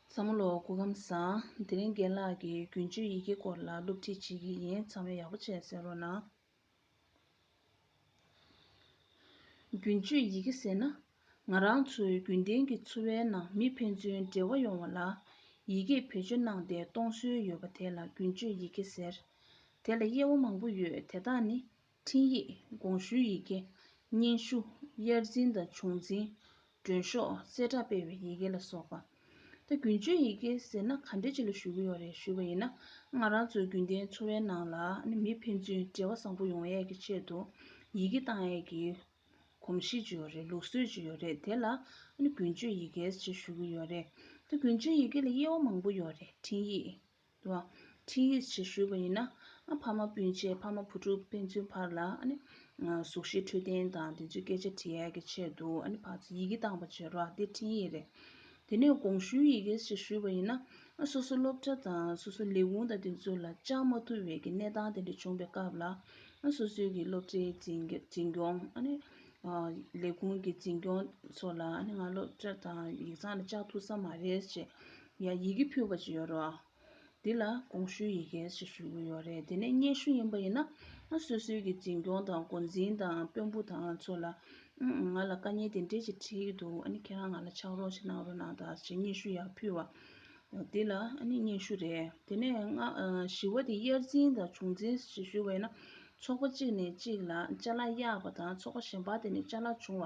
བཟང་མོ་ལོ་གུ་ཁམས་བཟང། དེ་རིང་རྒན་ལགས་ཀྱིས་རྒྱུན་སྤྱོད་ཡི་གེ་སྐོར་ལ་སློབ་ཁྲིད་བྱེད་ཀྱི་ཡིན་ཚང་མས་ཡག་པོ་བྱས་ཟེར་རོགས་གནང། རྒྱུན་སྤྱོད་ཡི་གེ་ཟེར་ན། ང་རང་ཚོའི་རྒྱུན་ལྡན་གྱི་འཚོ་བའི་ནང་མི་ཕན་ཚུན་འབྲེལ་བ་ཡོང་བ་ལ། ཡི་གེས་བེད་སྤྱོད་གནང་སྟེ་གཏོང་སྲོལ་ཡོད་པ་དེ་ལ་རྒྱུན་སྤྱོད་ཡི་གེ་ཟེར། དེ་ལ་དབྱེ་བ་མང་པོ་ཡོད་དེ་དག་ནི་འཕྲིན་ཡིག་དགོངས་ཞུའི་ཡི་གེ། སྙན་ཞུ། དབྱར་འཛིན་དང་བྱུང་འཛིན། མགྲོན་ཤོག། གསལ་བསྒྲགས་སྤེལ་བའི་ཡི་གེ་ལ་སོགས་པ། ད་རྒྱུན་སྤྱོད་ཡི་གེ་ཟེར་ན་ག་འདྲའི་ཆེད་ལ་ཞུ་གི་ཡོད་རེད་ཞུས་པ་ཡིན་ན་ང་རང་ཚོའི་རྒྱུན་ལྡན་འཚོ་བའི་ནང་ལ་མི་ཕན་ཚུན་འབྲེལ་བ་བཟང་པོ་ཡོང་ཡས་ཀྱི་ཆེད་དུ་ཡི་གེ་བཏང་ཡས་ཀྱི་གོམས་གཤིས་ཅིག་ཡོད་རེད་ལུགས་སྲོལ་ཅིག་ཡོད་རེད་དེ་ལ་རྒྱུན་སྤྱོད་ཡི་གེ་ཞེས་ཞུ་གི་ཡོད་རེད། ད་རྒྱུན་སྤྱོད་ཡི་གེ་ལ་དབྱེ་བ་མང་པོ་ཡོད་རེད་འཕྲིན་ཡིག། དུ་བ། འཕྲིན་ཡིག་ཅིག་ཞུས་པ་ཡིན་ན། ཕ་མ་སྤུན་མཆེད་ཕ་མ་བུ་ཕྲུག་དཔེ་མཚོན་བར་ལ། གཟུགས་གཞི་འཕྲོད་བསྟེན་དང་དེ་ཚོའི་སྐད་ཆ་དྲི་ཡལ་གྱི་ཆེད་དུ་ཕར་ཚུར་ཡི་གེ་བཏང་བ་བྱེད་རོགས་འདི་འཕྲིན་ཡིག་རེད། དེ་ནས་དགོངས་ཞུའི་ཡི་གེ་ཞིག་ཞུས་པ་ཡིན་ན། སོ་སོ་སློབ་གྲྭ་དང་སོ་སོ་ལས་ཁུངས་དང་དེ་ཚོ་ལ་བཅར་མ་ཐུབ་བའི་གནས་སྟངས་དེ་འདྲ་བྱུང་བའི་སྐབས་ལ། སོ་སོའི་གི་སློབ་གྲྭའི་འཛིན་སྐྱོང། ལས་ཁུངས་ཀྱི་འཛིན་སྐྱོང་ཚོ་ལ་ང་སློབ་གྲྭ་དང་ཡིག་ཚང་ལ་བཅར་ཐུབ་ས་མ་རེད་ཅེས་ཡང་ཡི་གེ་ཕུལ་བ་ཅིག་ཡོད་རེད། འདི་ལ་དགོངས་ཞུའི་ཡི་གེ་ཞེས་ཞུ་གི་ཡོད་རེད་དེ་ནས་སྙན་ཞུ་ཡིན་པ་ཡིན་ན་སོ་སོའི་གི་འཛིན་སྐྱོང་དང་འགོ་འཛིན་དང་དཔོན་པོ་དང་ཚོ་ལ་ང་ལ་དཀའ་ཉེ་དེ་འདྲས་ཅིག་འཁྲིས་ཀྱི་འདུག་ཨ་ནི་ཁྱེད་རང་ང་ལ་ཕྱག་རོགས་ཅིག་གནང་རོགས་གནང་དང་ཞེས་སྙན་ཞུ་ཡག་ཕུལ་བ། འདི་ལ་ཨ་ནི་སྙན་ཞུ་རེད་དེ་ནས་སྔ་ཞི་བ་དེ་དབྱར་འཛིན་དང་བྱུང་འཛིན་ཞེས་ཞུ་བ་ཡིན་ན་ཚོགས་པ་གཅིག་ནས་གཅིག་ལ་བཅའ་ལག་གཡག་པ་དང་ཚོགས་པ་གཞན་པ་དེ་ནས་བཅའ་ལག་བྱུང་བ་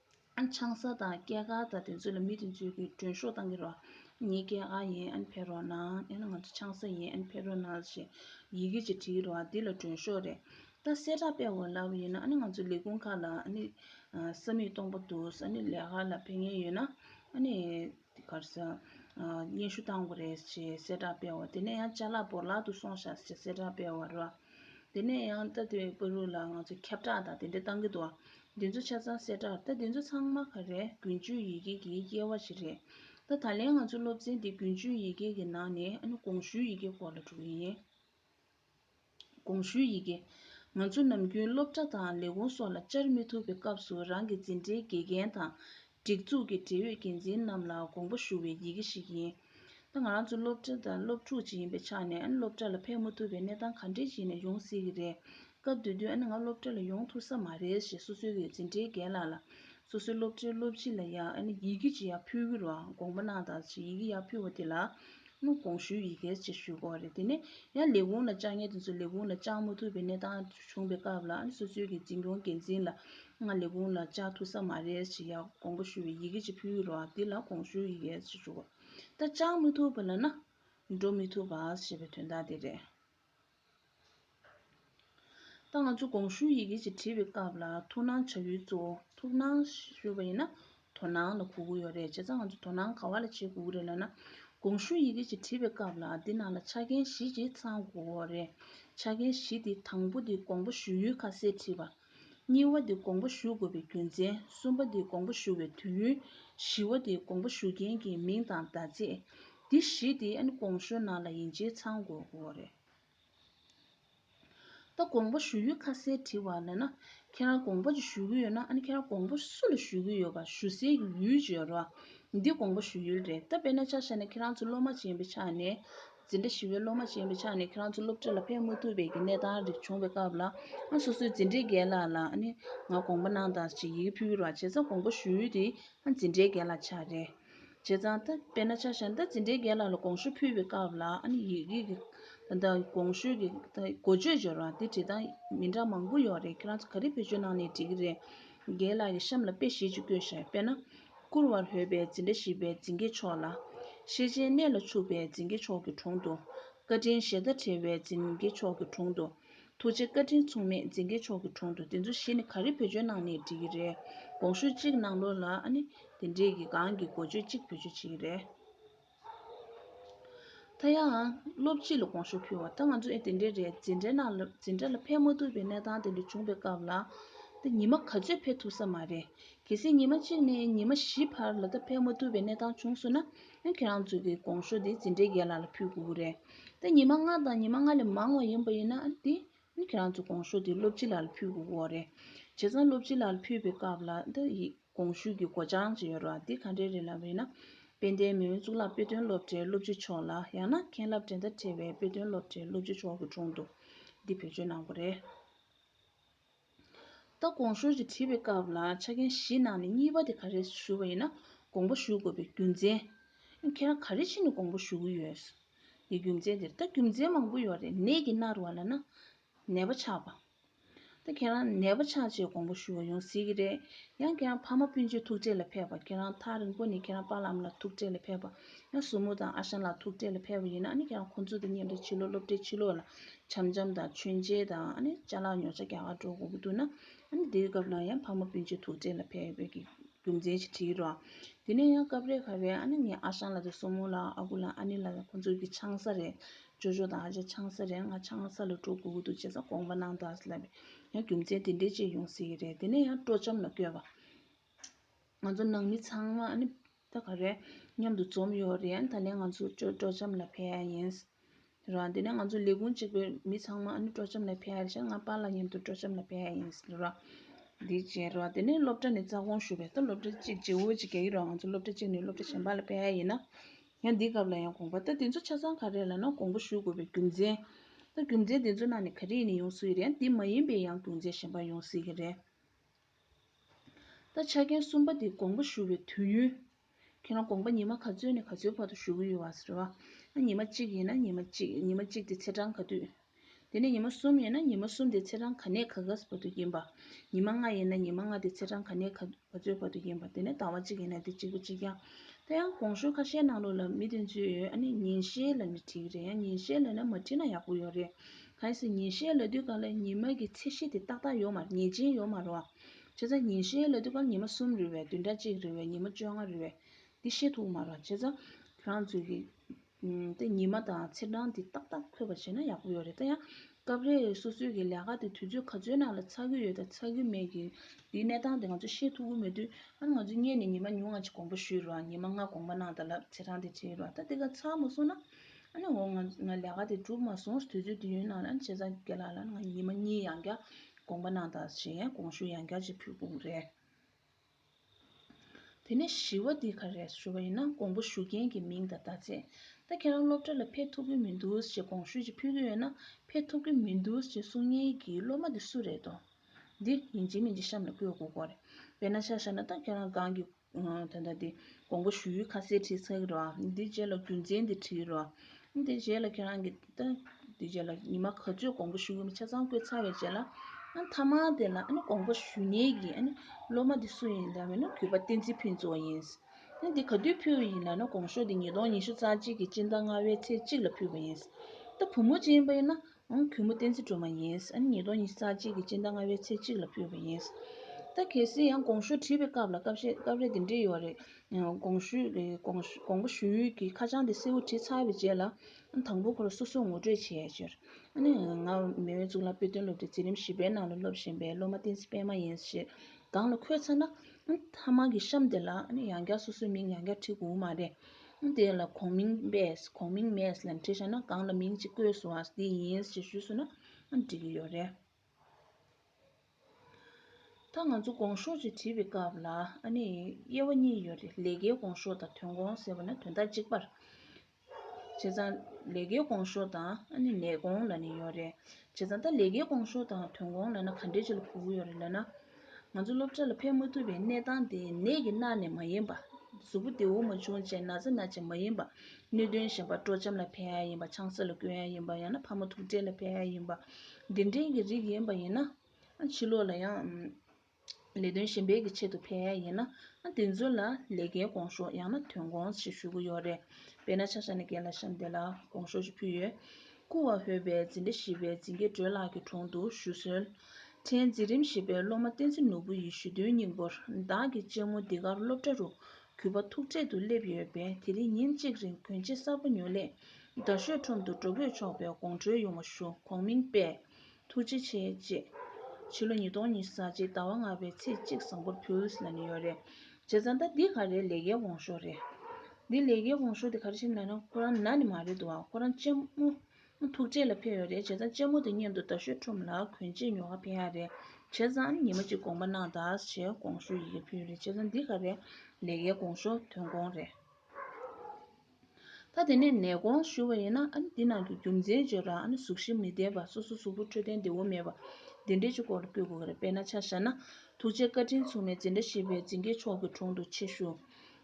ཆང་ས་དང་སྐྱེས་སྐར་དང་དེ་ཚོ་ལ་མི་དེ་ཚོའི་གི་མགྲོན་ཤོག་བཏང་གི་རོགས། ངའི་སྐྱེས་སྐར་ཡིན་ཨན་ཕེ་རོ་ནལ་ཨན་ང་ཚོ་ཆང་ས་ཡིན་ཨན་ཕེ་རོ་ནལ་ཞེས་ཡི་གེ་གཅིག་བྲིས་རོགས་འདི་ལ་མགྲོན་ཤོག་རེད། ད་གསལ་བསྒྲགས་སྤེལ་བ་ལབ་ཡིན་ན་ཨ་ནི་ང་ཚོ་ལས་ཁུངས་ཁག་ལ་ཨ་ནི་ས་མིག་སྟོང་པ་འདུག་ཨ་ནི་ལས་ཁག་ལ་ཕེབས་ངེས་ཡོད་ན་ཨ་ནི། དེ་གར་ས་སྙན་ཞུ་བཏང་བ་རེད་ཅེས་གསལ་བསྒྲགས་སྤེལ་བ་དེ་ནས་ཡང་བཅའ་ལག་བོར་ལག་ཏུ་སོང་བཞག་ཅེས་གསལ་བསྒྲགས་སྤེལ་བ་རེད། དེ་ནས་ཡང་རྟ་དོའི་དཔོན་རུ་ལ་ང་ཚོས་ཁྱབ་བསྒྲགས་དང་དེ་འབྲེལ་བཏང་གི་འདུག་འདི་ཚོ་ཆ་ཚང་གསལ་བསྒྲགས་རེད་རྟ་འདི་ཚོ་ཚང་མ་ག་རེ་དགུན་ཆོས་ཡི་གེ་གི་དབྱེ་བ་ཞིག་རེད་རྟ་ད་ལན་ང་ཚོའི་སློབ་ཚན་འདི་དགུན་ཆོས་ཡི་གེ་གི་ནང་ནས་ཨ་ནུ་ཀོང་ཞུའི་ཡི་གེ་སྐོར་ལ་གྲུབ་ཡིན། དགོངས་ཞུའི་ཡི་གེ། ང་ཚོ་ནམ་རྒྱུན་སློབ་གྲྭ་དང་ལས་ཁུངས་སོགས་ལ་བཅར་མི་ཐུབ་པའི་སྐབས་སུ་རང་གི་འཛིན་གྲྭའི་དགེ་རྒན་དང། སྒྲིག་འཛུགས་ཀྱི་འབྲེལ་ཡོད་འགན་འཛིན་རྣམས་ལ་དགོངས་པ་ཞུ་བའི་ཡི་གེ་ཞིག་ཡིན། ད་ང་རང་ཚོ་སློབ་གྲྭ་དང་སློབ་ཕྲུག་ཅིག་ཡིན་པའི་ཆ་ནས་སློབ་གྲྭ་ལ་ཕེབས་མ་ཐུབ་པའི་གནས་སྟངས་ག་འདྲའི་ཞིག་ནས་ཡོང་སྲིད་ཀྱི་རེད། སྐབས་དེ་དུས་ང་སློབ་གྲྭ་ལ་ཡོང་ཐུབ་ས་མ་རེད་ཞེས་སོ་སོའི་འཛིན་གྲྭའི་རྒན་ལགས་ལ། སོ་སོའི་སློབ་གྲྭའི་སློབ་སྤྱི་ལ་ཡང་ཡི་གེ་ཅི་ཡང་ཕུལ་གི་རུང་དགོངས་པ་གནང་དང་ཞེས་ཡི་གེ་ཡག་ཕུལ་བ་དེ་ལ། དངུལ་གོང་ཞུའི་ཡི་གེར་ཅེས་ཞུ་དགོས་རེད་དེ་ནས་ཡང་ལས་ཁུངས་ལ་བཅར་ཉེས་དེ་ཚོ་ལས་ཁུངས་ལ་བཅར་མ་ཐུབ་པའི་གནས་སྟངས་བྱུང་པའི་སྐབས་ལ་སོ་སོའི་གི་འཛིན་སྐྱོང་འགན་འཛིན་ལ་ང་ལས་ཁུངས་ལ་བཅར་ཐུབ་ས་མ་རེད་ཅེས་ཡང་དགོངས་པ་ཞུ་བའི་ཡི་གེ་ཅིག་ཕུལ་གི་རོགས་དེ་ལ་གོང་ཞུའི་ཡི་གེར་ཅེས་ཞུ་དགོས་ད་བཅར་མ་ཐུབ་པ་ལ་ན་འགྲོ་མི་ཐུབ་པ་ཞེས་པའི་དོན་དག་དེ་རེད། ད་ང་ཚོ་གོང་ཞུའི་ཡི་གེ་ཞིག་བྲིས་པའི་སྐབས་ལ་ཐུགས་སྣང་བྱ་ཡུལ་གཙོ་བོ་ཐུགས་སྣང་ཞུས་པ་ཡིན་ན་དོ་སྣང་ལ་གོ་གི་ཡོད་རེད་བྱས་ཙང་ང་ཚོ་དོ་སྣང་ག་བ་ལ་བྱེད་དགོས་ཀྱི་རེད་ལབ་ན། གོང་ཞུའི་ཡི་གེ་ཞིག་བྲིས་པའི་སྐབས་ལ་འདི་ནང་ལ་ཆ་རྐྱེན་བཞི་ཅིག་ཚང་དགོས་རེད། ཆ་རྐྱེན་བཞི་དེ་དང་པོ་དེ་དགོངས་པ་ཞུ་ཡུལ་ཁ་གསལ་བྲིས་པ། གཉིས་བ་དེ་དགོངས་པ་ཞུ་དགོས་པའི་རྒྱུ་མཚན་གསུམ་པ་དེ་དགོངས་པ་ཞུ་བའི་དུས་ཡུན། བཞི་བ་དེ་དགོངས་པ་ཞུ་མཁན་གྱི་མིང་དང་ཟླ་ཚེས། འདི་བཞི་དེ་ཨན་གོང་ཞོའི་ནང་ལ་ཡིན་ཕྱིར་ཚང་དགོས་འོ་རེད། ད་དགོངས་པ་ཞུ་ཡུལ་ཁ་གསལ་བྲི་བ་ལས་ན། ཁྱེད་རང་དགོངས་པ་ཅིག་ཞུ་གི་ཡོད་ན་ཨན་ཁྱེད་རང་དགོངས་པ་སུ་ལ་ཞུ་གི་ཡོད་པ་ཞུ་སའི་ཡུལ་བརྗོད་རོགས། འདི་དགོངས་པ་ཞུ་ཡུལ་རེད་ད་དཔེར་ན་ཆ་བཤད་ན་ཁྱེད་རང་ཚོ་སློབ་མ་ཅན་པའི་ཆ་ནས། འཛིན་གྲྭ་བཞི་བའི་སློབ་མ་ཆེན་པོ་ཆགས་ནས་ཁྱེད་རང་ཚོ་སློབ་ཁྲིད་ལ་ཕེབས་མ་ཐུབ་པའི་གནས་སྟངས་རིགས་བྱུང་བའི་སྐབས་ལ། ཨ་སོ་སོའི་འཛིན་གྲྭའི་རྒན་ལགས་ལ་ནི་ང་དགོངས་པ་གནང་དང་ཞེས་ཡི་གེ་ཕུལ་རོགས་བྱས་ཙང་དགོངས་པ་ཞུ་ཡུལ་དེ་ཨ་འཛིན་གྲྭའི་རྒན་ལགས་ཆགས་རེད་བྱས་ཙང་ད་དཔེར་ན་ཆ་ཤར་ད་འཛིན་གྲྭའི་རྒན་ལགས་ལ་དགོངས་ཞུ་ཕུལ་བའི་སྐབས་ལ་ཨ་ནི་ཡི་གེ་གི་ད་དགོངས་ཞུ་གི་ད་གོ་ཆོད་འབྱོར་བ་དེ་བྲིས་ཏང་མི་འདྲ་མང་པོ་ཡོད་རེད་ཁྱེད་རང་ཚོ་ག་རེ་བེད་སྤྱོད་གནང་ནས་བྲིས་ཀྱི་རེད་རྒན་ལགས་ཀྱི་གཤམ་ལ་དཔེ་ཞེ་གཅིག་བཀོད་ཤག་དཔེར་ན་བསྐུར་བར་འོས་པའི་འཛིན་གྲྭ་ཞིག་པའི་འཛིན་དགེ་མཆོག་ལ། ཤེས་བྱའི་གནས་ལ་ཕྱུག་པའི་འཛིན་དགེ་མཆོག་གི་དྲུང་དུ། བཀའ་དྲིན་ཞེ་ད་བྲལ་བའི་འཛིན་དགེ་མཆོག་གི་དྲུང་དུ། ཐུགས་རྗེ་བཀའ་དྲིན་མཚུངས་མེད་འཛིན་དགེ་མཆོག་གི་དྲུང་དུ་དེ་ཚོ་བཞི་ནི་ག་རེ་བེད་སྤྱོད་གནང་ནས་འབྲི་གི་རེད་དགོངས་ཞུ་གཅིག་གནང་ལོ་ལ་ཨ་ནི་དེ་འབྲེལ་གྱི་གང་གི་འགོ་བརྗོད་གཅིག་བེད་སྤྱོད་བྱེད་ཀྱི་རེད། ད་ཡང་སློབ་སྤྱི་ལ་དགོངས་ཞུ་ཕུལ་བ་ལྟར་ང་ཚོ་ཨེ་དེ་འདྲའི་རེད་འཛིན་གྲྭའི་ནང་ལ་འཛིན་གྲྭ་ལ་ཕེབས་མ་ཐུབ་པའི་གནས་སྟངས་དེ་འདྲ་བྱུང་བའི་སྐབས་ལ་ད་ཉི་མ་ག་ཚོད་ཕེབས་ཐུབ་ས་མ་རེད། གལ་སྲིད་ཉི་མ་གཅིག་ནས་ཉི་མ་བཞི་བར་ལ་ད་ཕེབས་མ་ཐུབ་པའི་གནས་སྟངས་བྱུང་སོང་ན་ཡང་ཁྱེད་རང་ཚོ་གིས་དགོངས་ཞུ་དེ་འཛིན་གྲྭའི་རྒན་ལགས་ལ་ཕུལ་དགོས་ཀྱི་རེད། ད་ཉི་མ་ལྔ་དང་ཉི་མ་ལྔ་ལས་མང་བ་ཡིན་པ་ཡིན་ན་དེ་ཁྱེད་རང་ཚོ་གོང་ཞུ་དེ་སློབ་སྤྱི་ལགས་ལ་ཕུལ་དགོས་སྐོར་རེད། བྱས་ཙང་སློབ་སྤྱི་ལགས་ལ་ཕུལ་བའི་སྐབས་ལ་འདི་ཡི་གོང་ཞུས་ཀྱི་གོ་བྱང་ཅི་ཡོད་རོགས་འདི་ག་འདྲའི་རེད་ལབ་རེད་ན། དཔལ་ལྡན་མེས་དབོན་གཙུག་ལག་དཔེ་སྟོན་སློབ་གྲྭའི་སློབ་སྤྱི་མཆོག་ལ་ཡང་ན་མཁན་རླབས་འགྲན་ཟླ་བྲལ་བའི་དཔེ་སྟོན་སློབ་གྲྭའི་སློབ་སྤྱི་མཆོག་གི་དྲུང་དུ་འདི་བེད་སྤྱོད་གནང་དགོས་རེད། ད་གོང་ཞུ་ཅིག་བྲིས་པའི་སྐབས་ལ་ཆ་རྐྱེན་བཞི་ནང་ནས་གཉིས་པ་དེ་ག་རེ་ཞུ་བ་ཡིན་ན་དགོངས་པ་ཞུ་དགོས་པའི་རྒྱུ་མཚན། ཁྱེད་རང་ག་རེ་ཕྱིན་ནས་དགོངས་པ་ཞུ་གི་ཡོད། ཀྱི་རྒྱུ་མཚན་དེར་ད་རྒྱུ་མཚན་མང་པོ་ཡོད་རེད་ནད་ཀྱི་མནར་བ་ལ་ན་ནད་པ་ཆགས་པ། ད་ཁྱེད་རང་ནད་པ་ཆགས་རྗེས་དགོངས་པ་ཞུ་བ་ཡོང་སྲིད་ཀྱི་རེད་ཡང་ཁྱེད་རང་ཕ་མ་སྤུན་མཆེད་ཐུག་འཕྲད་ལ་ཕེབས་པ་ཁྱེད་རང་ཐག་རིང་པོ་ནས་ཁྱེད་རང་པ་ལམ་ལ་ཐུག་འཕྲད་ལ་ཕེབས་པ་ཡང་ཟུར་མོ་དང་ཨ་ཞང་ལགས་ཐུག་འཕྲད་ལ་ཕེབས་པ་ཡིན་ན་ཨ་ནི་ཁྱེད་རང་ཁོང་ཚོ་དང་མཉམ་འབྲེལ་ཕྱི་ལོག་སློབ་གྲྭའི་ཕྱི་ལོག་ལ་བྱམས་བྱམས་དང་མཆོད་མཇལ་དང་ཨ་ནི་བཅའ་ལག་ཉོ་བཅའ་རྒྱག་ག་འགྲོ་དགོས་ཀྱི་འདུག་ན་ཨ་ནི་དེའི་སྐབས་ལ་ཡང་ཕ་མ་སྤུན་མཆེད་ཐུག་འཕྲད་ལ་ཕེབས་ཀྱི་རྒྱུ་མཚན་ཞིག་དྲིས་རོགས། དེ་ནས་ཡང་སྐབས་རེ་ཁ་བས་ཨ་ནེ་ངའི་ཨ་ཞང་ལ་དེ་སོ་མོ་ལ་ཨ་ཁུ་ལ་ཨ་ནེ་ལ་ཁོ་ཚོ་གི་ཆང་ས་རེད། ཅོ་ཅོ་དང་ཨ་ཅག་ཆང་ས་རེད་ང་ཆང་ས་ལ་འགྲོ་དགོས་ཀྱི་འདུག་བྱས་ཙང་དགོངས་པ་གནང་དག་ལབ། ཡང་རྒྱུ་མཚན་དེ་འདྲའི་ཅིག་ཡོང་སྲིད་ཀྱི་རེད་དེ་ནས་ཡང་སྤྲོ་འཆམ་ལ་བསྐྱོད་པ། ང་ཚོ་ནང་མི་ཚང་མ་ཨ་ནེ་ད་ག་རེད་མཉམ་དུ་འཛོམས་ཡོད་རེད་ད་ནས་ང་ཚོ་སྤྲོ་འཆམ་ལ་ཕེབས་ཨ་ཡིན། རོ། དེ་ནས་ང་ཚོ་ལས་ཁུངས་གཅིག་པའི་མི་ཚང་མ་ནི་སྤྲོ་འཆམ་ལ་ཕེབས་ཡོད་ལ་ཞག་ལྔ་པ་ལ་མཉམ་དུ་སྤྲོ་འཆམ་ལ་ཕེབས་ཡ་ཡིན་ཟེར་རོ། དེ་བྱས་རོ། དེ་ནས་སློབ་གྲྭ་ནས་རྩ་དགོངས་ཞུ་བའི་སྟབས་སློབ་གྲྭ་གཅིག་རྗེ་བོ་གཅིག་གྱེས་ཡོད་རུང་ང་ཚོ་སློབ་གྲྭ་གཅིག་ནས་སློབ་གྲྭ་གཞན་པ་ལ་ཕེབས་ཡ་ཡིན། ཡང་འདི་སྐབས་ལ་ཡང་དགོངས་པ་ལྟར་དེ་ཚོ་ཆ་ཚང་ག་རེ་ལ་ནང་དགོངས་པ་ཞུ་དགོས་པའི་རྒྱུ་མཚན། རྒྱུ་མཚན་དེ་ཚོའི་ནང་ནས་ག་རེ་ཡིན་ཡོང་སྲིད་ཀྱི་རེད་ཡང་འདི་མ་ཡིན་པའི་ཡང་རྒྱུ་མཚན་གཞན་པ་ཡོང་སྲིད་ཀྱི་རེད། ད་ཆ་མཁན་གསུམ་པ་དེ་དགོངས་པ་ཞུ་བའི་དུས་ཡུན། ཁྱེད་རང་དགོངས་པ་ཉི་མ་ག་ཚོད་ནས་ག་ཚོད་བར་དུ་ཞུ་གི་ཡོད་བ་རེད་བ། ཨ་ཉི་མ་གཅིག་ཡིན་ན་ཉི་མ་གཅིག་ཉི་མ་གཅིག་དེ་ཚེས་གྲངས་ག་དུས། དེ་ནས་ཉི་མ་གསུམ་ཡིན་ན་ཉི་མ་གསུམ་དེ་ཚེས་གྲངས་ག་ནས་ག་གཱས་བར་དུ་ཡིན་པ། ཉི་མ་ལྔ་ཡིན་ན་ཉི་མ་ལྔ་དེ་ཚེས་གྲངས་ག་ནས་ག་ཚོད་བར་དུ་ཡིན་པ་དེ་ནས་ཟླ་བ་གཅིག་ཡིན་ན་དེ་གཅིག་པོ་གཅིག་ཡང། ད་ཡང་དགོངས་ཞུ་ཁ་ཤས་གནང་རོགས་ལབ་མི་དོན་ཚོད་ཡོད་ཨ་ནི་ཉིན་ཤས་ལ་ནི་བྲིས་ཀྱི་རེད་ཡང་ཉིན་ཤས་ལ་ནི་མ་བྲིས་ན་ཡག་པོ་ཡོད་རེད། གལ་སྲིད་ཉིན་ཤས་ལས་དུས་སྐར་ལས་ཉི་མ་གི་ཚད་གཞི་དེ་ཏག་ཏག་ཡོད་མ་ངེས་ཅན་ཡོད་མ་རུང་བ། བྱས་ཙང་ཉིན་ཤས་ལས་དུས་སྐར་ཉི་མ་གསུམ་རེ་བས་བདུན་ཕྲག་གཅིག་རེ་བས་ཉི་མ་བཅོ་ལྔ་རེ་བས་འདི་ཤེས་ཐུབ་མ་རུང་བ། བྱས་ཙང་རང་ཚོད་ཀྱིས་ཏེ་ཉི་མ་དང་ཚེས་གྲངས་དེ་ཏག་ཏག་འཁོད་པ་བྱས་ན་ཡག་པོ་ཡོད་རེད་ད་ཡང། སྐབས་རེ་སོ་སོའི་གི་ལས་ཀ་དེ་དུས་ཚོད་ག་ཚོད་ནང་ལ་ཚགས་ཀྱི་ཡོད་དང་ཚགས་ཀྱི་མེད་ཀྱི་དེའི་གནས་སྟངས་དེ་ང་ཚོ་ཤེས་ཐུབ་ཀྱི་མེད་དུས་ཨ་ང་ཚོས་བརྙན་ནས་ཉི་མ་ཉུང་ང་ཅིག་དགོངས་པ་ཞུས་རུང་བ་ཉི་མ་ལྔ་དགོངས་པ་གནང་ད་ལབ་ཚེས་གྲངས་དེ་བྲིས་རུང་བ་ད་དེ་ག་ཚགས་མ་སོང་ན། ཨ་ནེ་འོ་ང་ལས་ཀ་དེ་གྲུབ་མ་སོང་དུས་ཚོད་དུས་ཡུན་ནང་ལ་བྱས་ཙང་ཁྱེད་ལ་ལ་ང་ཉི་མ་གཉིས་ཡང་བསྐྱར་དགོངས་པ་གནང་དང་ཞེས་དགོངས་ཞུ་ཡང་བསྐྱར་ཅིག་ཕུལ་དགོངས་རེད། དེ་ནས་བཞི་བ་འདི་ག་རེད་ཞུ་བ་ཡིན་ན་དགོངས་པ་ཞུ་མཁན་གྱི་མིང་དང་བརྡ་ཆད། ད་ཁྱེད་རང་སློབ་གྲྭ་ལ་ཕེབས་ཐུབ་ཀྱི་མི་འདུག་ཞེས་དགོངས་ཞུ་ཅིག་ཕུལ་གྱི་ཡོད་ན་ཕེབས་ཐུབ་ཀྱི་མི་འདུག་ཅེས་གསུང་མཁན་གྱི་སློབ་མ་དེ་སུ་རེད་དོ། འདི་ཡིན་གཅིག་མིན་གཅིག་གཤམ་ལ་བཀོད་དགོས་སྐོར་རེད། དཔེར་ན་ཆ་བཞག་ན་ད་ཁྱེད་རང་སྒང་གི་ད་ལྟ་དེ་དགོངས་པ་ཞུ་ཡུལ་ཁ་གསལ་བྲིས་ཚར་རོ། དེ་རྗེས་ལ་རྒྱུ་མཚན་དེ་བྲིས་རོ། དེ་རྗེས་ལ་ཁྱེད་རང་གི། དེ་རྗེས་ལ་ཉི་མ་ག་ཚོད་དགོངས་པ་ཞུ་ཡུལ་ཆ་ཚང་བཀོད་ཚར་བའི་རྗེས་ལ། མཐའ་མ་དེ་ལ་དགོངས་པ་ཞུ་ཉེས་ཀྱི་སློབ་མ་དེ་སུ་ཡིན་ལྟ་བས་ན་གུས་པ་བསྟན་འཛིན་ཕུན་ཚོགས་ཡིན། འདི་ག་དུས་ཕུལ་བ་ཡིན་ལ་ན་དགོངས་ཤོག་དེ་ཉིས་སྟོང་ཉི་ཤུ་རྩ་གཅིག་གི་སྤྱི་ཟླ་ལྔ་བའི་ཚེས་གཅིག་ལ་ཕུལ་བ་ཡིན། ད་བུ་མོ་སྤྱན་པས་ན་ཨང་གུས་མོ་བསྟན་འཛིན་སྒྲོལ་མ་ཡིན། ཨ་ནེ་ཉིས་སྟོང་ཉིས་ས་གཅིག་གི་སྤྱི་ཟླ་ལྔ་བའི་ཚེས་གཅིག་ལ་ཕུལ་བ་ཡིན། ད་གལ་སྲིད་ཡང་དགོངས་ཞུ་བྲིས་པའི་སྐབས་ལ་སྐབས་ཤེས་སྐབས་རེ་འདི་འདྲི་ཡོད་རེད། དགོངས་ཞུ་དགོངས་པ་ཞུ་ཡུལ་གྱི་ཁ་བྱང་དེ་གསལ་བོ་བྲིས་ཚར་བའི་རྗེས་ལ། ཨ་ནེ་དང་པོ་ཁོར་སོ་སོས་ངོ་སྤྲོད་བྱས་ཕྱིར། ཨ་ནེ། ང་མེས་དབོན་གཙུག་ལག་དཔེ་སྟོན་སློབ་གྲྭའི་འཛིན་རིམ་བཞི་པའི་ནང་ལ་སློབ་བཞིན་པའི་སློབ་མ་བསྟན་འཛིན་པད་མ་ཡིན་ཞེས་སྒང་ལ་འཁོད་ཚར་ན། ཨ་ནེ་ཐ་མག་གི་གཤམ་དེ་ལ་ཨ་ནེ་ཡང་བསྐྱར་སོ་སོའི་མིང་ཡང་བསྐྱར་བྲིས་དགོས་མ་རེད། ཁུངས་དེ་ལ་གོང་མིང་པས་གོང་མིང་མས་ལན་ཁྲིད་བྱས་ན་གང་ལ་མིང་གཅིག་བཀོད་སོང་བ་དེ་ཡིན་ཞེས་ཞུས་སོང་ན་འགྲིག་གི་ཡོད་རེད། ད་ང་ཚོ་གོང་ཤོག་ཅིག་བྲིས་པའི་སྐབས་ལ་ཨ་ནི་དབྱེ་བ་གཉིས་ཡོད་རེད་ལས་ཀའི་གོང་ཤོག་དང་དོན་གོང་ཟེར་བ་ན་དོན་དག་གཅིག་པར་བྱས་ཙང་ལས་ཀའི་གོང་ཤོག་དང་ཨ་ནི་ལས་གོང་ལ་ནི་ཡོད་རེད་བྱས་ཙང་ད་ལས་ཀའི་གོང་ཤོག་དང་དོན་གོང་ལ་ན་ག་འདྲའི་ཆེ་ལ་གོ་གི་ཡོད་རེད་ལབ་ན། ང་ཚོ་སློབ་གྲྭ་ལ་ཕེབས་མ་ཐུབ་པའི་གནས་སྟངས་དེ་ནད་ཀྱི་མནར་ནས་མ་ཡིན་པ། གཟུགས་པོ་བདེ་བོ་མ་བྱུང་ཅེས་ན་ཚ་ན་ཅི་མ་ཡིན་པ། གནོད་སྐྱོན་ཞན་པ་སྤྲོ་འཆམ་ལ་ཕན་ཡ་ཡིན་པ་ཆང་སེར་ལ་སྐྱོན་ཡ་ཡིན་པ་ཡང་ན་ཕ་མ་ཐུགས་ཁྲལ་ལ་ཕན་ཡ་ཡིན་པ། འདི་འདྲའི་གི་རིགས་ཡིན་པ་ཡིན་ན། ཕྱི་ལོགས་ལ་ཡང། ལས་དོན་གཞན་པའི་གི་ཆེད་དུ་ཕན་ཡ་ཡིན་ན། དེ་ཚོ་ལ་ལས་ཀའི་དགོངས་ཤོག་ཡང་ན་དོན་དགོངས་ཞིག་ཞུ་གི་ཡོད་རེད། དཔེར་ན་ཆ་ཤ་ནས་རྒན་ལ་ཤམ་འདས་ལ་དགོངས་ཤོག་ཅིག་ཕུལ་ཡོད། སྐུ་བ་བོད་པའི་འཛིན་གྲྭ་བཞི་པའི་འཛིན་དགེ་སྒྲོལ་ལགས་ཀྱི་དྲུང་དུ་ཞུ་གསོལ། ཕྲན་འཛིན་རིམ་བཞི་པའི་སློབ་མ་བསྟན་འཛིན་ནོར་བུ་ཡི་ཞུ་དོན་སྙིང་པོར་བདག་གི་གཅེན་མོ་འདི་གར་སློབ་གྲྭ་རུ་གུས་པ་ཐུགས་ཁྲེལ་དུ་སླེབས་ཡོད་པས་དེ་རིང་ཉིན་གཅིག་རིང་གུན་ཆེ་གསར་པ་ཉོ་སླད་རྡ་ཤོད་ཁྲོམ་དུ་འགྲོ་ཕོད་ཆོག་པའི་དགོངས་འཁྲོལ་ཡོང་བ་ཞུ་གོང་མིང་དཔེ་ཐུགས་རྗེ་ཆེ་ཅེས། ཕྱི་ལོ་ཉིས་སྟོང་ཉིས་བརྒྱད་ཟླ་བ་ལྔ་པའི་ཚེས་གཅིག་བཟང་པོར་ཕུལ། ལ་ནི་ཡོད་རེད། བྱས་ཙང་ད་འདི་ག་རེ་ལས་ཀའི་འོང་ཞོར་རེད། འདི་ལས་ཀའི་འོང་ཞོར་དེ་ག་རེ་བྱེད་མིན་ལ་ན་ཁོ་རང་ན་ནི་མ་རེད་འདུག་ཁོ་རང་གཅེན་མོ་ཐུགས་རྗེ་ལ་ཕེབས་ཡོད་རེད་བྱས་ཙང་གཅེན་མོ་དེ་གཉེན་དུ་ད་ཤོད་ཁྲོམ་ལ་གོན་ཆེད་ཉོ་ཁ་ཕེབས་ཡག་རེད་བྱས་ཙང་ཉི་མ་གཅིག་དགོངས་པ་གནང་དང་ཞེས་དགོངས་ཞུ་ཡི་གེ་ཕུལ་ཡོད་རེད་བྱས་ཙང་འདི་ག་རེ་ལས་ཀའི་འོང་ཞོར་དོན་དགོངས་རེད། ད་དེ་ནས་ནད་གོང་ཞུ་བ་ཡིན་ན་འདི་ནང་གི་རྒྱུ་མཚན་བརྗོད་རག་གཟུགས་གཞི་མི་བདེ་བ་སོ་སོ་གཟུགས་པོ་འཕྲོད་བསྟེན་བདེ་བོ་མེད་པ་འདི་འདྲའི་ཆུ་སྐོར་ལ་བསྐྱོད་དགོས་ཀྱི་རེད་དཔེར་ན་ཆ་བཞག་ན་ཐུགས་རྗེ་བཀའ་དྲིན་མཚུངས་མེད་འཛིན་གྲྭ་ཞེས་པའི་འཛིན་དགེ་མཆོག་གི་དྲུང་དུ་ཆེད་ཞུ།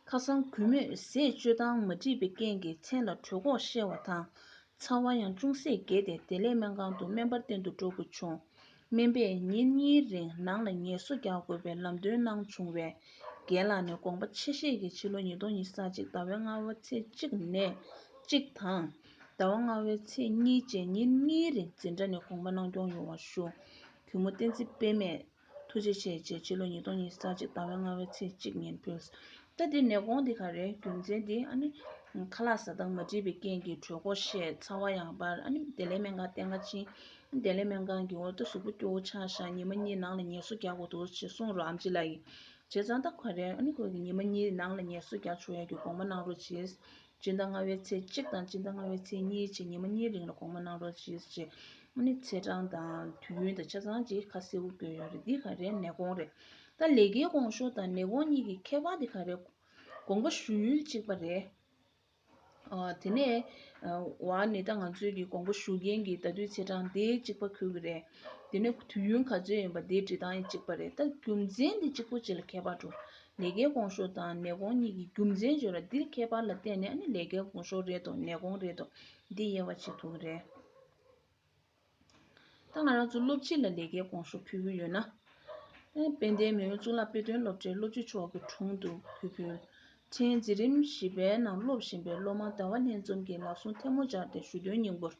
ཁ་སང་གུས་མོས་ཟས་སྤྱོད་སྟངས་མ་འགྲིག་པའི་རྐྱེན་གྱིས་མཚན་ལ་གྲོད་ཁོག་བཤལ་བ་དང་ཚ་བ་ཡང་ཅུང་ཟད་རྒྱས་ཏེ་དེ་ལས་སྨན་ཁང་དུ་སྨན་པར་བསྟེན་དུ་འགྲོ་དགོས་བྱུང། སྨན་པས་ཉིན་གཉིས་རིང་ནང་ལ་ངལ་གསོ་རྒྱག་དགོས་པའི་ལམ་སྟོན་གནང་བྱུང་བས། རྒན་ལགས་ནས་དགོངས་པ་ཆེ་བཞེས་ཀྱིས་ཕྱི་ལོ་ཉིས་སྟོང་ཉིས་ས་གཅིག་ཟླ་བའི་ལྔ་བ་ཚེས་གཅིག་ནས་གཅིག་དང། ཟླ་བ་ལྔ་བའི་ཚེས་གཉིས་བཅས་ཉིན་གཉིས་རིང་འཛིན་གྲྭ་ནས་དགོངས་པ་གནང་སྐྱོང་ཡོང་བར་ཞུ། གུས་མོ་བསྟན་འཛིན་སྤེལ་མས་ཐུགས་རྗེ་ཆེ་བཅས་ཕྱི་ལོ་ཉིས་སྟོང་ཉིས་ས་གཅིག་ཟླ་བའི་ལྔ་བའི་ཚེས་གཅིག་ཉིན་ཕུལ། ད་འདི་ནད་དགོངས་འདི་ག་རེད་རྒྱུ་མཚན་འདི་ཨ་ནི། ཁ་ལག་ཟ་སྟངས་མ་འདྲིས་པའི་རྐྱེན་གྱིས་གྲོད་ཁོག་ཤེད་ཚ་བ་ཡང་འབར་ཨ་ནི་བདེ་ལེགས་སྨན་ཁང་བསྟེན་ཁ་ཕྱིན། དེ་ལས་སྨན་ཁང་གི་འོག་ཏུ་གཟུགས་པོ་སྐྱོ་བོ་ཆགས་བཞག་ཉི་མ་གཉིས་ནང་ལ་ཉལ་གསོ་རྒྱག་དགོས་འདུག་ཅེས་གསུངས་རོགས་ཨམ་ཅི་ལགས། བྱས་ཙང་ད་ག་རེ་ཨ་ནི་ཁོས་ཀྱི་ཉི་མ་གཉིས་ནང་ལ་ཉལ་གསོ་རྒྱག་ཆོག་ཡ་གྱི་དགོང་མ་གནང་རོགས་གྱིས། སྤྱི་ཟླ་ལྔ་བའི་ཚེས་གཅིག་དང་སྤྱི་ཟླ་ལྔ་བའི་ཚེས་གཉིས་བཅས་ཉི་མ་གཉིས་རིང་ལ་དགོང་མ་གནང་རོགས་གྱིས་ཅེས་ཨ་ནི་ཚེས་གྲངས་དང་དུས་ཡུན་དང་ཆ་ཚང་གི་ཁ་གསལ་བོ་བཀོད་ཡོད་རེད་འདི་ག་རེ་ནད་གོང་རེད་ད་ལས་ཀའི་གོང་ཤོག་དང་ནད་གོང་གཉིས་ཀྱི་ཁྱད་པར་དེ་ག་རེ་དགོངས་པ་ཞུ་ཡུལ་གཅིག་པ་རེད། དེ་ནས་ཝཱ་ནི་ཏཱ་ང་ཚོས་ཀྱི་གོང་བུ་ཞུ་མཁན་གྱི་ད་དུས་ཚེས་གྲངས་དེ་གཅིག་པ་ཁུར་གི་རེད། དེ་ནས་དུས་ཡུན་ག་ཚོད་ཡིན་པ་དེའི་འབྲི་སྟངས་ཡིན་གཅིག་པ་རེད་ད་རྒྱུ་མཚན་དེ་གཅིག་པོ་བྱེད་ལ་ཁྱད་པར་འགྲོ། ལས་ཀའི་གོང་ཤོག་དང་ནད་གོང་གཉིས་ཀྱི་རྒྱུ་མཚན་བརྗོད་ལ་འདིར་ཁྱད་པར་ལ་བརྟེན་ནས་ནི་ལས་ཀའི་གོང་ཤོག་རེད་དོ་ནད་གོང་རེད་དོ་འདི་དབྱེ་བ་བྱེད་ཐུབ་ཀྱི་རེད། ད་ང་རང་ཚོ་སློབ་སྤྱི་ལ་ལས་ཀའི་དགོངས་ཞུ་ཕུལ་གྱི་ཡོད་ན། དཔལ་ལྡན་མེས་དབོན་གཙུག་ལག་དཔེ་སྟོན་སློབ་གྲྭའི་སློབ་སྤྱི་མཆོག་གི་དྲུང་དུ་ཕུལ་ཕུལ། ཕྲན་འཛིན་རིམ་བཞི་པའི་ནང་སློབ་བཞིན་པའི་སློབ་མ་ཟླ་བ་ལྷན་འཛོམས་ཀྱི་ལག་ཟུང་ཐལ་མོ་སྦྱར་ཏེ་ཞུ་དོན་སྙིང་པོར།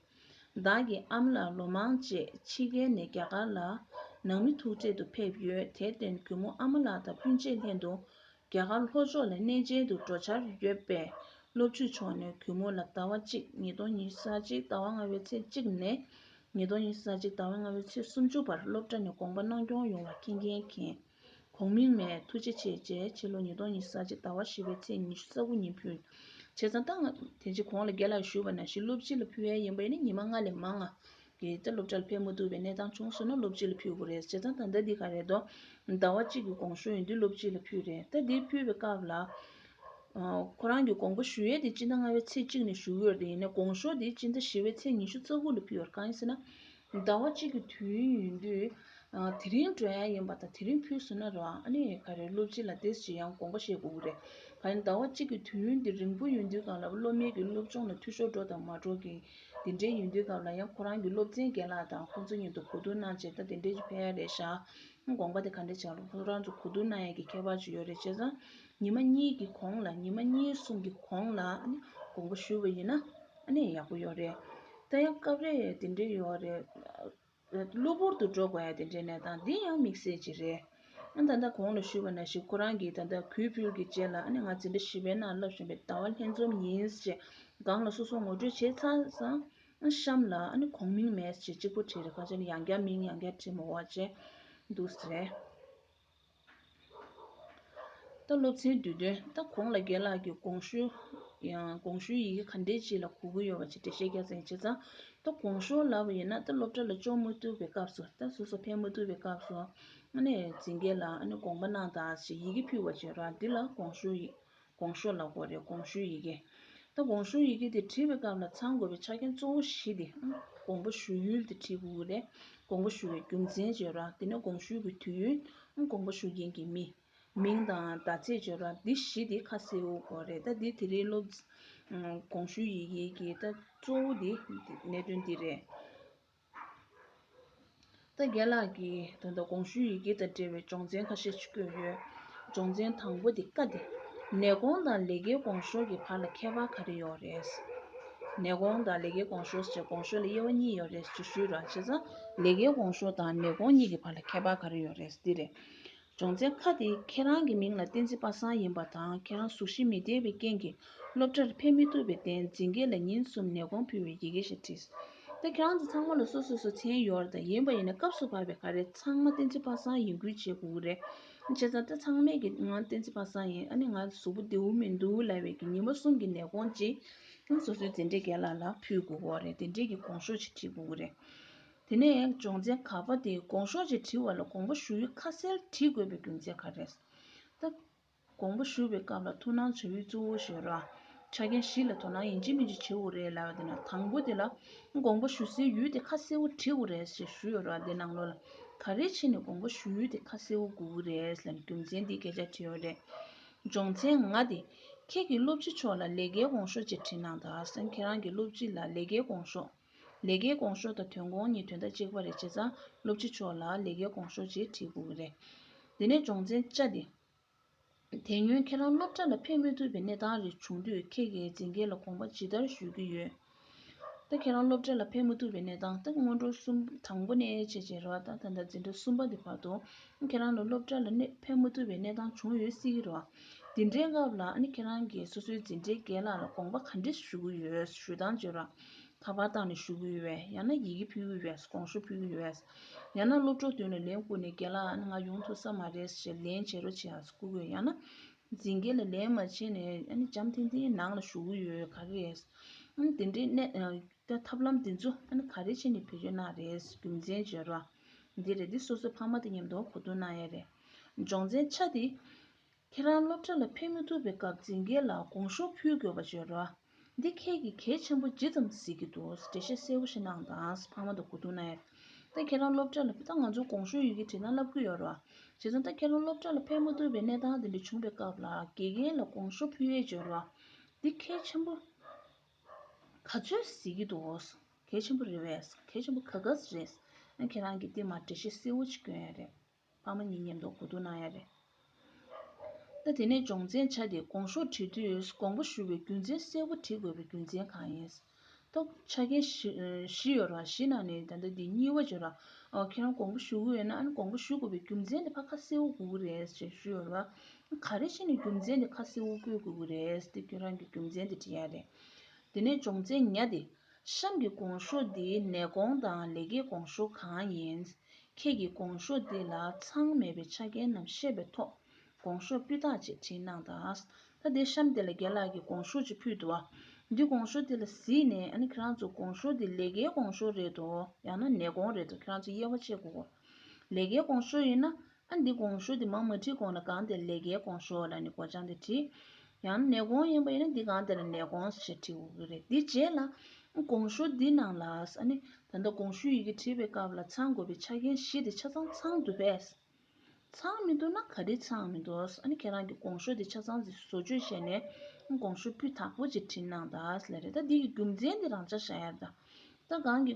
བདག་གི་ཨམ་ལགས་ལོ་མང་རྗེས་ཕྱི་རྒྱལ་ནས་རྒྱ་གར་ལ་ནང་མི་ཐུག་འཕྲད་དུ་ཕེབས་ཡོད་དེར་བརྟེན་གུས་མོ་ཨ་མ་ལགས་དང་སྤུན་མཆེད་ལྷན་དུ་རྒྱ་གར་ལྷོ་ཕྱོགས་ལས་གནས་ཅན་དུ་འགྲོ་འཆར་ཡོད་པའི་སློབ་ཕྲུག་མཆོག་ནས་གུས་མོ་ལ་ཟླ་བ་གཅིག་ཉིས་སྟོང་ཉིས་ས་གཅིག་ཟླ་བ་ལྔ་བའི་ཚེས་གཅིག་ནས་ཉིས་སྟོང་ཉིས་ས་གཅིག་ཟླ་བ་ལྔ་བའི་ཚེས་སུམ་ཅུ་བར་སློབ་གྲྭ་ནས་དགོངས་པ་གནང་སྐྱོང་ཡོང་བ་མཁྱེན་མཁྱེན་མཁྱེན། གོང་མིང་མས་ཐུགས་རྗེ་ཆེ་བཅས་ཕྱི་ལོ་ཉིས་སྟོང་ཉིས་ས་གཅིག་ཟླ་བ་བཞི་བའི་ཚེས་ཉི་ཤུ་ས་དགུ་ཉིན་ཕུལ། བྱས་ཙང་ད་སྔ། དེ་རྗེས་གོང་ལ་དགེ་ལགས་ཞུས་པ་ན་བཞི་སློབ་སྤྱི་ལ་ཕུལ་ཡ་ཡིན་པ་ཡིན་ན་ཉི་མ་ལྔ་ལས་མང་ང་གི་ཏེ་སློབ་གྲྭ་ལ་ཕེབས་མ་ཐུབ་པའི་གནས་སྟངས་བྱུང་སོང་ན་སློབ་སྤྱི་ལ་ཕུལ་དགོས་རེད་བྱས་ཙང་ད་ལྟ་འདི་ག་རེད་དོ། ཟླ་བ་གཅིག་གི་གོང་ཞུ་ཡིན་དུས་སློབ་སྤྱི་ལ་ཕུལ་རེད་ད་འདི་ཕུལ་བའི་སྐབས་ལ། ཁོ་རང་གི་དགོངས་པ་ཞུ་ཡས་དེ་སྤྱི་ཟླ་ལྔ་བའི་ཚེས་གཅིག་ནས་ཞུ་འོས་རེད་ཡིན་ན་དགོངས་ཞོར་དེ་སྤྱི་ཟླ་བཞི་བའི་ཚེས་ཉི་ཤུ་རྩ་དགུ་ལ་ཕུལ་བར་གང་ཡིན་ཟེར་ན། ཟླ་བ་གཅིག་གི་དུས་ཡུན་ཡིན་དུས། དེ་རིང་འགྲོ་ཡ་ཡིན་པ་དང་དེ་རིང་ཕུལ་སོང་ན་ར་ཨ་ནི་ག་རེ་སློབ་སྤྱི་ལ་དེ་ཇི་ཡང་དགོངས་པ་བཞེས་དགོས་ཀྱི་རེད་ག་ཡིན་ཟླ་བ་གཅིག་གི་དུས་ཡུན་དེ་རིང་པོ་ཡིན་དུས་གང་ལ་བློ་མིག་གི་སློབ་སྦྱོང་ལ་འཐུས་ཤོར་འགྲོ་དང་མ་འགྲོ་གི་དེ་འདྲའི་ཡུན་དུས་སྐབས་ལ་ཡང་ཁོ་རང་གི་སློབ་ཚན་རྒན་ལགས་དང་ཁོ་ཚོའི་གཉིས་ཏུ་གོ་བསྡུར་གནང་བྱས་ད་དེ་འདྲའི་ཕན་ཡོན་རེད་ཤག་དགོངས་པ་དེ་ག་འདྲའི་ཆགས་ཁོ་རང་ཚོ་གོ་བསྡུར་གནང་ཡས་ཀྱི་ཁྱད་པར་ཅི་ཡོད་རེད་ཅེས་སང་ཉི་མ་གཉིས་ཀྱི་གོང་ལ་ཉི་མ་གཉིས་གསུམ་གྱི་གོང་ལ་དགོངས་པ་ཞུས་པ་ཡིན་ན་ཡག་པོ་ཡོད་རེད་ད་ཡང་སྐབས་རེ་དེ་འདྲའི་ཡོད་རེད། གློ་བུར་དུ་འགྲོ་དགོས་ཡ་དེ་འདྲའི་གནས་སྟངས་འདི་ཡང་དམིགས་བསལ་གྱི་རེད། ད་ལྟ་གོང་ལ་ཞུས་པ་ན་ཞིག་ཁོ་རང་གིས་ད་ལྟ་གུས་ཕུལ་གྱི་རྗེས་ལ་ང་འཛིན་གྲྭ་བཞི་པའི་ནང་ལབ་བཞིན་པའི་ཟླ་བ་ལྷན་འཛོམས་ཡིན་ཞེས་སྒང་ལ་སོ་སོར་ངོ་སྤྲོད་བྱས་ཚར་སང་གཤམ་ལ་གོང་མིང་མེད་ཅེས་གཅིག་པོ་བྲིས་རེད་ཁ་ཆེ་ན་ཡང་བསྐྱར་མིང་ཡང་བསྐྱར་བྲིས་མི་འོང་བ་བྱས་འདུག་ཟེར། ལྟ་སློབ་ཚན་བསྡུས་དོན་ལྟ་གོང་ལ་རྒན་ལགས་ཀྱིས་དགོངས་ཞུའི་ཡི་གེ་ག་འདྲས་ཅི་ལ་གོ་གི་ཡོད་པ་ཅིག་འགྲེལ་བཤད་རྒྱག་མཚན་བྱས་ཙང་ལྟ་དགོངས་ཤོར་ལབ་པ་ཡིན་ན་ལྟ་སློབ་གྲྭ་ལ་ལྕོགས་མ་ཐུབ་པའི་སྐབས་སུ་ལྟ་ཟུར་སོགས་ཕན་མ་ཐུབ་པའི་སྐབས་སུ། ཨ་ནེ་འཛིན་རྒྱལ་ལགས་ཨ་ནེ་དགོངས་པ་གནང་དང་ཞེས་ཡི་གེ་ཕུལ་བ་བྱས་རོགས་འདི་ལ་དགོངས་ཞུ་ཡིན། གོང་ཞུ་ལ་གོ་རེ་གོང་ཞུའི་ཡི་གེ། ད་གོང་ཞུའི་ཡི་གེ་དེ་བྲིས་པའི་སྐབས་ལ་ཚང་དགོས་པའི་ཆ་རྐྱེན་གཙོ་བོ་བཞི་སྟེ། དགོངས་པ་ཞུ་ཡུལ་དེ་བྲིས་དགོས་རེ། དགོངས་པ་ཞུ་བའི་རྒྱུ་མཚན་བརྗོད་ར། དེ་ནས་དགོངས་ཞུ་གི་དུས་ཡུན། དགོངས་པ་ཞུ་མཁན་གྱི་མི། མིང་དང་ཟླ་ཚེས་བརྗོད་ར་འདི་བཞི་དེ་ཁ་གསལ་བོ་གོ་རེ། ད་འདི་དེ་རིང་སློབ། གོང་ཞུའི་ཡི་གེའི་གི་ད་གཙོ་བོ་དེ་གནད་དོན་འདི་རེད། རྩེ་རྒྱལ་ལགས་ཀྱིས་དོན་དག་གོང་ཞུའི་ཡི་གེ་དང་འབྲེལ་བའི་སྦྱོང་ཚན་ཁ་ཤས་བཀོད་ཡོད། སྦྱོང་ཚན་དང་པོ་དེ་ཀ་དེ། ནད་གོང་དང་ལས་ཀའི་གོང་ཞོར་གྱི་བར་ལ་ཁྱད་པར་ག་རེ་ཡོད་རེད། ནད་གོང་དང་ལས་ཀའི་གོང་ཞོར་ཟེར་བའི་གོང་ཞོར་ལ་དབྱེ་བ་གཉིས་ཡོད་རེད་ཇི་ཞུས་ར་བྱས་ཙང་ལས་ཀའི་གོང་ཞོར་དང་ནད་གོང་གཉིས་ཀྱི་བར་ལ་ཁྱད་པར་ག་རེ་ཡོད་རེད་འདི་རེད། སྦྱོང་ཚན་ཁག་དེ་ཁྱེད་རང་གི་མིང་ལ་བསྟན་འཛིན་པ་སངས་ཡིན་པ་དང་ཁྱེད་རང་གཟུགས་གཞི་མི་བདེ་བའི་རྐྱེན་གྱིས་སློབ་གྲྭར་ཕེབས་མི་ཐུབ་པའི་རྟེན་འཛིན་འགས་ལ་ཉིན་གསུམ་ནད་དགོངས་ཕུལ་བའི་ཡི་གེ་ཞིག་བྲིས། ད་ཁྱེད་རང་ཚོ་ཚང་མ་ལ་སོ་སོས་སོ་མཚན་ཡོད་རེད་ད་ཡིན་པ་ཡིན་ན་སྐབས་སུ་བབས་པའི་ག་རེ་ཚང་མ་བསྟན་འཛིན་པ་སངས་ཡིན་ཁུལ་བྱེད་དགོས་ཀྱི་རེད། བྱས་ཙང་ད་ཚང་མས་ཀྱིས་ང་བསྟན་འཛིན་པ་སངས་ཡིན་ཨ་ནི་ང་གཟུགས་པོ་བདེ་བོ་མི་འདུག་ལབ་བས་ཀྱིས་ཉིན་མ་གསུམ་གྱི་ནད་དགོངས་ཅིག་ཁྱེད་རང་སོ་སོའི་འཛིན་གྲྭའི་དགེ་ལ་ལ་ཕུལ་དགོས་ཀྱི་རེད་འདི་འདྲས་ཀྱིས་དགོངས་ཤོག་ཅིག་བྲིས་དགོས་ཀྱི་རེད། དེ་ནས་སྦྱོང་ཚན་ག་པ་དེ་དགོངས་ཤོག་ཅེས་བྲིས་བ་ལ་དགོངས་པ་ཞུ་ཡུལ་ཁ་གསལ་བྲིས་དགོས་པའི་རྒྱུ་མཚན་ག་རེད་སྟབས། དགོངས་པ་ཞུ་བའི་སྐབས་ལ་ཐུགས་སྣང་བྱ་ཡུལ་གཙོ་བོ་ཞེས་རོགས་ཆ་རྐྱེན་བཞི་ལ་དོ་སྣང་ཡིན་གཅིག་མིན་གཅིག་བྱེད་དགོས་རེད་ལབ་པ་དེ་ན་དང་པོ་དེ་ལ་དགོངས་པ་ཞུ་སའི་ཡུལ་དེ་ཁ་གསལ་བོ་བྲིས་དགོས་རེད་ཞེས་ཞུས་ཡོད་རོགས་དེ་ནང་ལོགས་ལ་ག་རེ་ཕྱིན་ནས་དགོངས་པ་ཞུ་ཡུལ་དེ་ཁ་གསལ་བོ་དགོས་ཀྱི་རེད་ལབ་རྒྱུ་མཚན་འདིས་སྐད་ཆ་བྲིས་ཡོད་རེད། སྦྱོང་ཚན་ང་དེ། ཁྱེད་ཀྱིས་སློབ་སྤྱི་མཆོག་ལ་ལས་ཀའི་དགོངས་ཤོག་ཅེས་བྲིས་གནང་དག་སེམས་ཁྱེད་རང་གི་སློབ་སྤྱི་ལ་ལས་ཀའི་དགོངས་ཤོག། ལས་ཀའི་གོང་ཤོག་དང་དོན་དགོང་གཉིས་དོན་དག་གཅིག་པ་རེད་བྱས་ཙང་སློབ་སྤྱི་མཆོག་ལ་ལས་ཀའི་གོང་ཤོག་ཅིག་བྲིས་དགོས་ཀྱི་རེད། དེ་ནས་སྦྱོང་ཚན་བཅའ་སྟེ། དེ་སྔོན་ཁྱེད་རང་སློབ་གྲྭ་ལ་ཕེབས་མི་ཐུབ་པའི་གནས་སྟངས་རེ་བྱུང་དུས་ཁྱེད་ཀྱིས་འཛིན་མཁན་ལ་དགོངས་པ་ཇི་ལྟར་ཞུ་གི་ཡོད། ད་ཁྱེད་རང་སློབ་གྲྭ་ལ་ཕེབས་མི་ཐུབ་པའི་གནས་སྟངས་ད་སྔོན་འགྲོ་གསུམ་དང་པོ་ནས་བྱེད་བྱེད་རོགས་ད་ད་འཛིན་གྲྭ་གསུམ་པ་དེ་བར་དུ་ཁྱེད་རང་ལ་སློབ་གྲྭ་ལ་ཕེབས་མི་ཐུབ་པའི་གནས་སྟངས་བྱུང་ཡོད་སྲིད་ཀྱི་རོགས། འདི་འདྲའི་སྐབས་ལ་ཁྱེད་རང་གིས་སོ་སོའི་འཛིན་གྲྭའི་སྐལ་ལག་ལ་དགོངས་པ་ག་འདྲ་ཞུ་གི་ཡོད་ཞུ་སྟངས་བརྗོད་རོགས། ད་བར་ཏང་ནས་ཞུ་གི་ཡོད་པས་ཡང་ན་ཡི་གེ་ཕུལ་གི་ཡོད་པས་གོང་ཞུ་ཕུལ་གི་ཡོད། ཡང་ན་སློབ་གྲོགས་བདུན་ལ་ལན་བསྐུར་ནས་རྒན་ལགས་ཨ་ནི་ང་ཡོང་ཐུབ་ས་མ་རེད་ཞེས་ལན་བྱེད་རོགས་བྱེད་ཨ་ཟེར་བསྐུར་གི་ཡོད་ཡང་ན་འཛིན་རྒན་ལ་ལན་མ་བྱེད་ནས་ཨ་ནི་འཇམ་ཐིང་ཐིང་ནང་ལ་ཞུ་གི་ཡོད་ག་རེ་རེད། ཨ་ནི་དེ་འདྲའི་ཐབས་ལམ་འདི་ཚོ་ཨ་ནི་ག་རེ་བྱས་ནས་བེད་སྤྱོད་གནང་རེད་རྒྱུ་མཚན་བརྗོད་རོགས། འདི་རེད་འདི་སོ་སོའི་ཕ་མ་དང་མཉམ་དུ་གོ་བསྡུར་གནང་ཡས་རེད། སྦྱོང་ཚན་ཆ་དེ། ཁྱེད་རང་སློབ་གྲྭ་ལ་ཕེབས་མི་ཐུབ་པའི་སྐབས་འཛིན་མཁན་ལ་དགོངས་ཞུ་ཕུལ་དགོས་པ་བརྗོད་རོགས། འདི་ཁྱེད་ཀྱིས་གལ་ཆེན་པོ་ཇི་ཙམ་གཟིགས་ཀྱི་འདུག་འགྲེལ་བཤད་གསལ་བོ་ཞིག་གནང་དང་ཕ་མ་དང་གོ་བསྡུར་གནང། ད་ཁྱེད་རང་སློབ་གྲྭ་ལ་ཕེབས་ད་ང་ཚོར་དགོངས་ཞུ་ཡི་གེ་བྲིས་ན་བསླབ་ཁུལ་ཡོད་རོགས། བྱས་ཙང་ད་ཁྱེད་རང་སློབ་གྲྭ་ལ་ཕེབས་མི་ཐུབ་པའི་གནས་སྟངས་དེ་འདྲ་བྱུང་བའི་སྐབས་ལ་དགེ་རྒན་ལ་དགོངས་ཞུ་ཕུལ་ཡས་བརྗོད་རོགས། འདི་གལ་ཆེན་པོ་ག་ཚོད་གཟིགས་ཀྱི་འདུག་གལ་ཆེན་པོ་རེད་བས། གལ་ཆེན་པོ་ག་ག་ཟེ་རེད། ཁྱེད་རང་གིས་འདི་མ་འགྲེལ་བཤད་གསལ་བོ་ཅིག་བསྐྱོན་ཡས་རེད། ཕ་མ་གཉིས་ཉམས་རྟོགས་གོ་བསྡུར་གནང་ཡ་རེད། ད་དེ་ནས་སྦྱོང་ཚན་ཆ་དེ་དགོངས་ཤོག་བྲི་དུས་དགོངས་པ་ཞུ་བའི་རྒྱུ་མཚན་གསལ་བོ་བྲི་དགོས་པའི་རྒྱུ་མཚན་གང་ཡིན། ཐོག་ཆ་མཁན་བཞི་ཡོད་རང་བཞི་ནང་ནས་ད་ལྟ་འདི་གཉིས་བ་བྱོས་རང་ཁྱེད་རང་དགོངས་པ་ཞུ་གི་ཡོད་ན་ཨང་དགོངས་པ་ཞུ་དགོས་པའི་རྒྱུ་མཚན་དེ་ཕ་ཁ་གསལ་བོ་གོ་གི་རེད་ཅེས་ཞུས་ཡོད་ར། ག་རེ་བྱས་ནས་རྒྱུ་མཚན་དེ་ཁ་གསལ་བོ་བཀོད་དགོས་ཀྱི་རེད་དེ་ཁྱོད་རང་གིས་རྒྱུ་མཚན་དེ་བྲིས་ཡ་རེད། དེ་ནས་སྦྱོང་ཚན་ཉ་དེ། གཤམ་གྱི་གོང་ཤོག་འདི་ནད་གོང་དང་ལས་ཀའི་གོང་ཤོག་གང་ཡིན། ཁྱེད་ཀྱིས་གོང་ཤོག་འདི་ལ་མཚང་མེད་པའི་ཆ་རྐྱེན་རྣམས་བཤད་པའི་ཐོག་གོང་ཤོག་སྤུས་དག་ཅེས་བྲིས་གནང་དང། ད་དེ་གཤམ་འདི་ལ་རྒན་ལགས་ཀྱིས་གོང་ཤོག་ཅིག་ཕུལ་འདུག་འདི་གོང་ཤོག་འདི་ལ་གཟིགས་ནས་ཨ་ནི་ཁྱེད་རང་ཚོ་གོང་ཤོག་འདི་ལས་ཀའི་གོང་ཤོག་རེད་དོ་ཡང་ན་ནད་གོང་རེད་དོ་ཁྱེད་རང་ཚོ་དབྱེ་བ་ཕྱེ་དགོས། ལས་ཀའི་གོང་ཤོག་ཡིན་ན་ཨ་འདི་གོང་ཞོ་འདི་མ་མ་བྲིས་གོང་ན་གང་དེར་ལས་ཀའི་གོང་ཞོ་ལ་ནི་གོ་ཆང་དེ་བྲིས། ཡང་ན་ནས་གོང་ཡིན་པ་ཡིན་ན་འདི་གང་དེར་ནས་གོང་ཞེས་བྲི་དགོས་ཀྱི་རེད། དེ་རྗེས་ལ། གོང་ཞོ་འདི་ནང་ལ། ཨ་ནི། ད་ལྟ་གོང་ཞོའི་ཡི་གེ་བྲིས་པའི་སྐབས་ལ་ཚང་དགོས་པའི་ཆ་རྐྱེན་བཞི་དེ་ཆ་ཚང་ཚང་འདུག་པས། ཚང་མི་འདུག་ན་ག་དུས་ཚང་མི་འདུག་ཨ་ནི་ཁྱེད་རང་གིས་གོང་ཞོ་འདི་ཆ་ཚང་ཟིག་བཟོ་བཅོས་བྱས་ནས། གོང་ཞོ་སྤུས་དག་པོ་ཅིག་བྲིས་གནང་ད་ལས་རེད་ད་འདི་ཡི་རྒྱུ་མཚན་འདི་རང་ཅག་ཤ་ཡར་ད་ལྟ་གང་གི།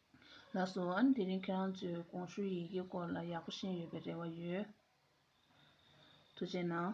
ལགས་སོ། དེ་རིང་ཁྱེད་རང་ཚོས་གོང་ཞུས་ཡི་གེའི་སྐོར་ལ་ཡག་པོ་ཤེས་ཡོད་པའི་རེ་བ་ཡོད། ཐུགས་རྗེ་གནང།